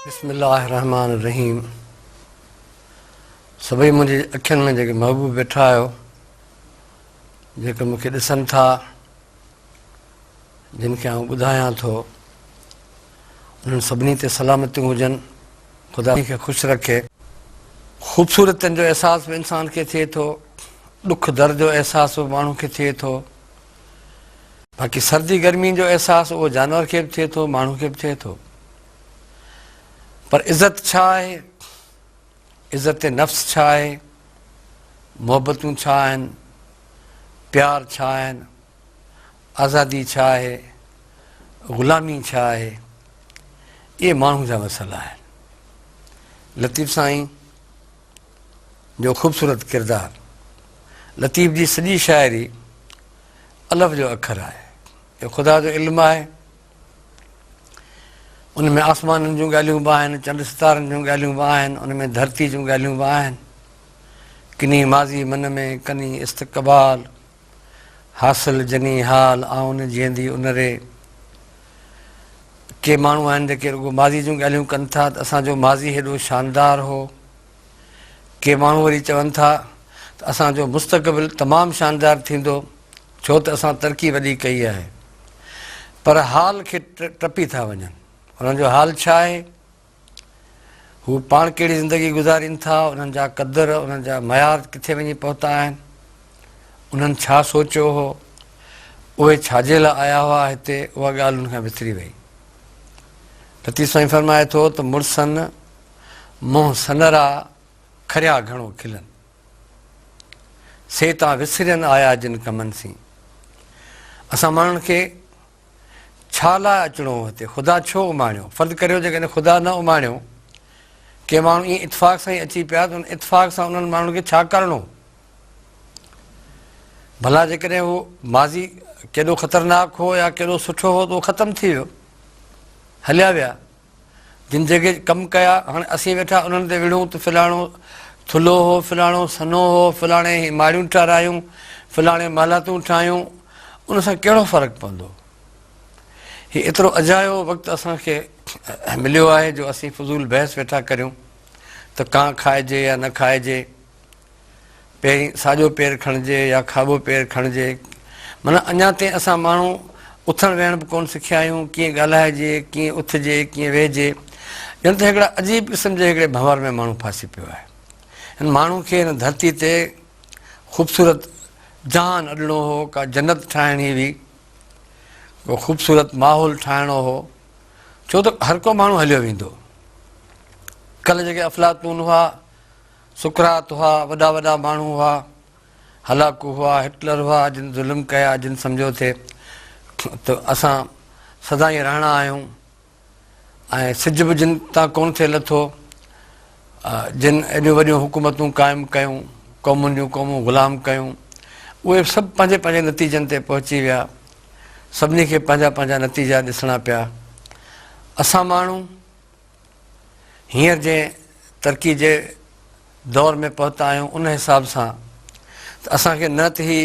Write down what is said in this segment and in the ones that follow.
بسم الله الرحمٰن الرحيم سڀئي منهنجي اکين ۾ جيڪي محبوب ويٺا آهيو جيڪي مون کي ڏسن ٿا جن کي آئون ٻڌايان ٿو انهن سڀني تي سلامتيون هجن خدا سڀني کي خوش رکي. خوبصورتين جو احساس به انسان کي ٿئي ٿو ڏک درد جو احساس به ماڻهو کي ٿئي ٿو باقي سردي گرمين جو احساس اهو جانور کي به ٿئي ٿو ماڻهو کي به ٿئي ٿو پر عزت ڇا آهي عزت نفس ڇا آهي محبتون ڇا آهن پيار ڇا آهن آزادي ڇا آهي، غلامي ڇا آهي، اهي ماڻهو جا مسئلا آهن. لطيف سائين جو خوبصورت ڪردار، لطيف جي سڄي شاعري الف جو اکر آهي. اهو خدا جو علم آهي. ان ۾ آسمانن جون ڳالهيون به آهن، چنڊ ستارن جون ڳالهيون به آهن، ان ۾ ڌرتي جون ڳالهيون به آهن. ڪني ماضي من ۾، ڪني استقبال. حاصل جني حال آئون جيئندي ان ري. ڪي ماڻهو آهن جيڪي رڳو ماضي جون ڳالهيون ڪن ٿا ته اسان جو ماضي هيڏو شاندار هو. ڪي ماڻهو وري چون ٿا ته اسان جو مستقبل تمام شاندار ٿيندو ڇو ته اسان ترقي وڏي ڪئي آهي. پر حال کي ٽپي ٿا وڃن. انهن جو حال ڇا آهي؟ هو پاڻ ڪهڙي زندگي گذارين ٿا، انهن جا قدر، انهن جا معيار ڪٿي وڃي پهتا آهن، انهن ڇا سوچيو هو، اهي ڇا جي لاء آيا هئا هتي، اها ڳالهه هن کان وسري وئي. پتي سائين فرمائي ٿو ته مڙسن منهن سنرا کريا گهڻو کلن. سي تان وسرين آيا جن ڪمن سين. اسان ماڻهن کي. ڇا لاء اچڻو هو هتي؟ خدا ڇو اماڻيو؟ فرض ڪريو جيڪڏهن خدا نه اماڻيو، ڪي ماڻهو ائين اتفاق سان ئي اچي پيا ته ان اتفاق سان انهن ماڻهن کي ڇا ڪرڻو هو؟ ڀلا جيڪڏهن اهو ماضي ڪيڏو خطرناڪ هو يا ڪيڏو سٺو هو ته اهو ختم ٿي ويو، هليا ويا. جن جيڪي ڪم ڪيا، هاڻي اسين ويٺا انهن تي وڙهون ته فلاڻو ٿلهو هو، فلاڻو سنهو هو، فلاڻي هي ماڙيون ٽارايون، فلاڻي محلاتون ٺاهيون، ان سان ڪهڙو فرق پوندو؟ هي ايترو اجايو وقت اسان کي مليو آهي جو اسين فضول بحث ويٺا ڪريون ته ڪانء کائجي يا نه کائجي. پهرين ساڄو پير کڻجي يا کاٻو پير کڻجي. معنيٰ اڃا تائين اسان ماڻهو اٿڻ ويهڻ به ڪونه سکيا آهيون، ڪيئن ڳالهائجي، ڪيئن اٿجي، ڪيئن ويهجي. ڄڻ ته هڪڙا عجيب قسم جي هڪڙي ڀنور ۾ ماڻهو ڦاسي پيو آهي. هن ماڻهو کي هن ڌرتي تي خوبصورت جهان اڏڻو هو، ڪا جنت ٺاهڻي هئي، ڪو خوبصورت ماحول ٺاهڻو هو، ڇو ته هر ڪو ماڻهو هليو ويندو. ڪلهه جيڪي افلاطون هئا، سقراط هئا، وڏا وڏا ماڻهو هئا، هلاڪو هئا، هٽلر هئا، جن ظلم ڪيا، جن سمجهيو ٿي ته اسان سدائين رهڻا آهيون ۽ سج به جن تان ڪونه ٿي لٿو، جن ايڏيون وڏيون حڪومتون قائم ڪيون، قومن جون قومون غلام ڪيون، اهي سڀ پنهنجي پنهنجي نتيجن تي پهچي ويا. سڀني کي پنهنجا پنهنجا نتيجا ڏسڻا پيا. اسان ماڻهو هينئر جنهن ترقي جي دور ۾ پهتا آهيون ان حساب سان ته اسان کي نه ته هي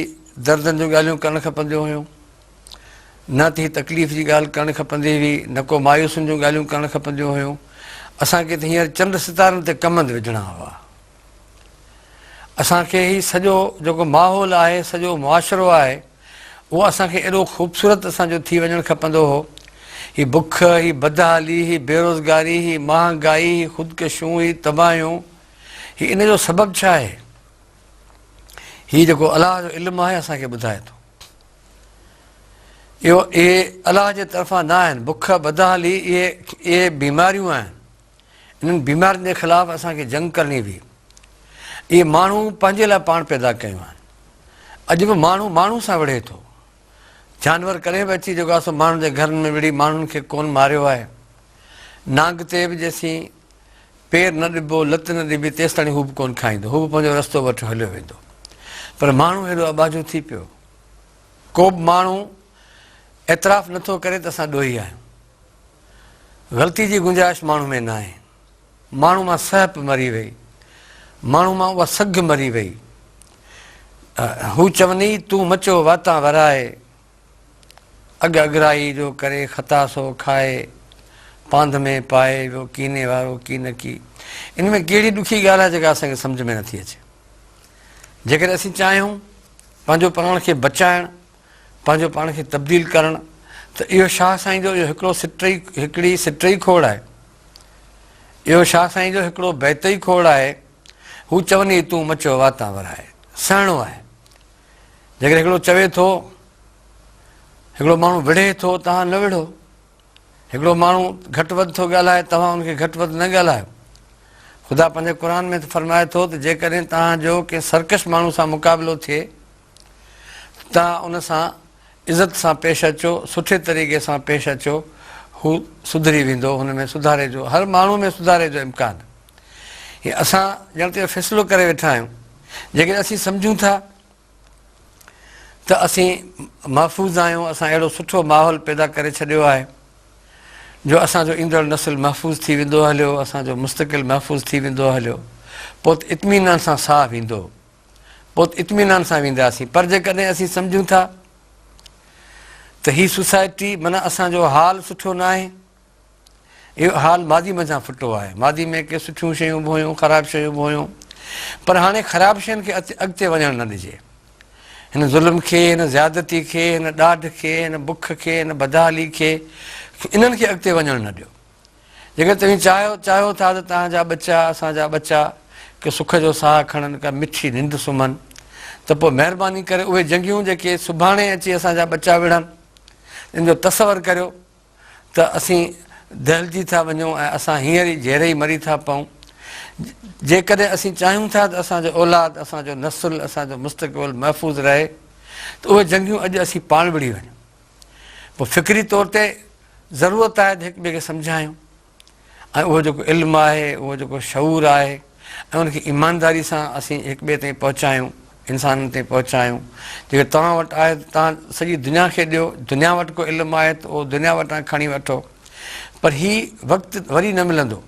دردن جون ڳالهيون ڪرڻ کپنديون هيون نه ته هي تڪليف جي ڳالهه ڪرڻ کپندي هئي نه ڪو مايوسين جون ڳالهيون ڪرڻ کپنديون هيون اسان کي ته هينئر چنڊ ستارن تي ڪمند وجهڻا هئا اسان کي هي سڄو جيڪو ماحول آهي سڄو معاشرو آهي اهو اسان کي ايڏو خوبصورت اسان جو ٿي وڃڻ کپندو هو هي بک هي بدحالي هي بيروزگاري هي مهانگائي هي خودڪشيون هي تباهيون هي ان جو سبب ڇا آهي هي جيڪو الله جو علم آهي اسان کي ٻڌائي ٿو اهو اهي الله جي طرفان نه آهن بک بدحالي اهي اهي بيماريون آهن انهن بيمارين جي خلاف اسان کي جنگ ڪرڻي هئي. اهي ماڻهو پنهنجي لاء پاڻ پيدا ڪيون آهن. اڄ به ماڻهو ماڻهو سان وڙهي ٿو. جانور ڪڏهن به اچي جيڪو آهي سو ماڻهن جي گهرن ۾ وڙهي ماڻهن کي ڪونه ماريو آهي. نانگ تي به جيسين پير نه ڏبو، لت نه ڏبي تيستاڻي هو به ڪونه کائيندو. هو به پنهنجو رستو وٺي هليو ويندو. پر ماڻهو هيڏو اٻاجهو ٿي پيو. ڪوبه ماڻهو اعتراف نٿو ڪري ته اسان ڏوهي آهيون. غلطي جي گنجائش ماڻهو ۾ ناهي. ماڻهو مان سهپ مري وئي. ماڻهو مان اها سگهه مري وئي. هو چوني تون مچو واتان ورائي. اڳ اڳرائي جو ڪري خطا سو کائي. پانڌ ۾ پائي ويو ڪيني وارو ڪينڪي. ان ۾ ڪهڙي ڏکي ڳالهه آهي جيڪا اسان کي سمجهه ۾ نٿي اچي. جيڪڏهن اسين چاهيون پنهنجو پراڻ کي بچائڻ. پنهنجو پاڻ کي تبديل ڪرڻ ته اهو شاهه سائين جو اهو هڪڙو سٽ ئي هڪڙي سٽ ئي کوڙ آهي. اهو شاهه سائين جو هڪڙو بيت ئي کوڙ آهي. هو چوني تون مچو واتان ورائي. سهڻو آهي. جيڪڏهن هڪڙو چوي ٿو، هڪڙو ماڻهو وڙهي ٿو، توهان نه وڙهو. هڪڙو ماڻهو گهٽ وڌ ٿو ڳالهائي، توهان ان کي گهٽ وڌ نه ڳالهايو. خدا پنهنجي قرآن ۾ ته فرمائي ٿو ته جيڪڏهن توهان جو ڪنهن سرڪش ماڻهو سان مقابلو ٿئي، توهان ان سان عزت سان پيش اچو، سٺي طريقي سان پيش اچو، هو سڌري ويندو، هن ۾ سڌاري جو، هر ماڻهو ۾ سڌاري جو امڪان. هي اسان ڄڻ ته اهو فيصلو ڪري ويٺا آهيون، جيڪڏهن اسين سمجهون ٿا ته اسين محفوظ آهيون، اسان اهڙو سٺو ماحول پيدا ڪري ڇڏيو آهي جو اسان جو ايندڙ نسل محفوظ ٿي ويندو هليو، اسان جو مستقل محفوظ ٿي ويندو هليو، پوء ته اطمينان سان ساهه ويندو. پوء اطمينان سان وينداسين پر جيڪڏهن اسين سمجهون ٿا ته هي سوسائٽي معنيٰ اسان جو حال سٺو نه آهي اهو حال ماضي منجهان ڦٽو آهي ماضي ۾ ڪي سٺيون شيون به هيون خراب شيون به هيون پر هاڻي خراب شين کي اڳتي وڃڻ نه ڏجي هن ظلم کي هن زيادتي کي هن ڏاڍ کي هن بک کي هن بدحالي کي انهن کي اڳتي وڃڻ نه ڏيو جيڪڏهن توهين چاهيو چاهيو ٿا ته توهان جا ٻچا، اسان جا ٻچا، ڪي سک جو ساهه کڻن، ڪا مٺي ننڊ سمهن، ته پوء مهرباني ڪري اهي جنگيون جيڪي سڀاڻي اچي اسان جا ٻچا وڙهن، ان جو تصور ڪريو ته اسين دهلجي ٿا وڃون ۽ اسان هينئر ئي جهرئي مري ٿا پئون. جيڪڏهن اسين چاهيون ٿا ته اسان جو اولاد، اسان جو نسل، اسان جو مستقبل محفوظ رهي ته اهي جنگيون اڄ اسين پاڻ وڙهي وڃون. پوء فڪري طور تي ضرورت آهي ته هڪ ٻئي کي سمجهايون ۽ اهو جيڪو علم آهي، اهو جيڪو شعور آهي ۽ ان کي ايمانداري سان اسين هڪ ٻئي تائين پهچايون، انسانن تائين پهچايون. جيڪو توهان وٽ آهي ته توهان سڄي دنيا کي ڏيو، دنيا وٽ ڪو علم آهي ته اهو دنيا وٽان کڻي وٺو پر هي وقت وري نه ملندو.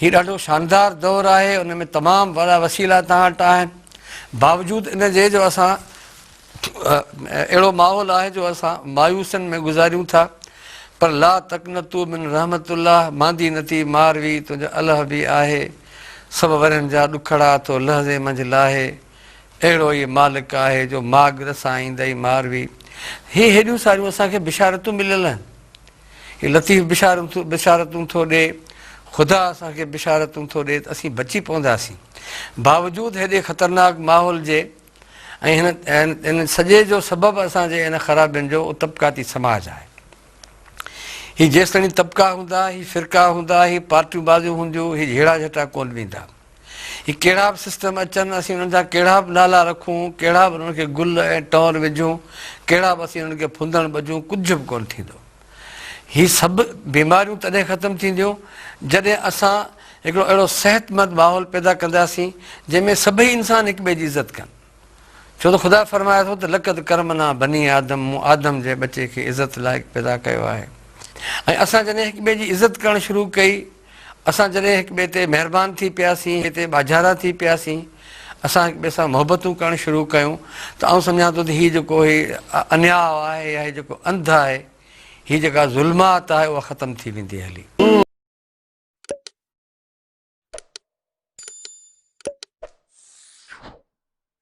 هي ڏاڍو شاندار دور آهي ان ۾ تمام وڏا وسيلا توهان وٽ آهن باوجود ان جي جو اسان اهڙو ماحول آهي جو اسان مايوسن ۾ گذاريون ٿا پر لا تقنتو من رحمت الله ماندي نتي ماروي تنهنجو الهه به آهي سڀ ورن جا ڏکڙا تو لهزي منجهه لاهي اهڙو ئي مالڪ آهي جو ماڳ رسائيندئي ماروي هي هيڏيون ساريون اسان کي بشارتون مليل آهن هي لطيف بشارتون ٿو ڏئي. خدا اسان کي بشارتون ٿو ڏئي ته اسين بچي پونداسين. باوجود هيڏي خطرناڪ ماحول جي ۽ هن سڄي جو سبب اسان جي هن خرابين جو اهو طبقاتي سماج آهي. هي جيستائين طبقا هوندا، هي فرقا هوندا، هي پارٽيون بازيون هونديون، هي جهيڙا جهٽا ڪونه ويندا. هي ڪهڙا به سسٽم اچن، اسين انهن جا ڪهڙا به نالا رکون، ڪهڙا به انهن کي گل ۽ ٽور وجهون، ڪهڙا به اسين انهن کي ڦندڻ ٻجهون، ڪجهه به ڪونه ٿيندو. هي سڀ بيماريون تڏهن ختم ٿينديون، جڏهن اسان هڪڙو اهڙو صحتمند ماحول پيدا ڪنداسين، جنهن ۾ سڀئي انسان هڪ ٻئي جي عزت ڪن. ڇو ته خدا فرمائي ٿو ته لقد ڪرمنا بني آدم، مون آدم جي ٻچي کي عزت لائق پيدا ڪيو آهي ۽ اسان جڏهن هڪ ٻئي جي عزت ڪرڻ شروع ڪئي، اسان جڏهن هڪ ٻئي تي مهربان ٿي پياسين، هتي ٻاجهارا ٿي پياسين، اسان هڪ ٻئي سان محبتون ڪرڻ شروع ڪيون ته آئون سمجهان ٿو ته هي جيڪو هي انياء آهي يا هي جيڪو انڌ آهي، هي جيڪا ظلمات آهي اها ختم ٿي ويندي هلي.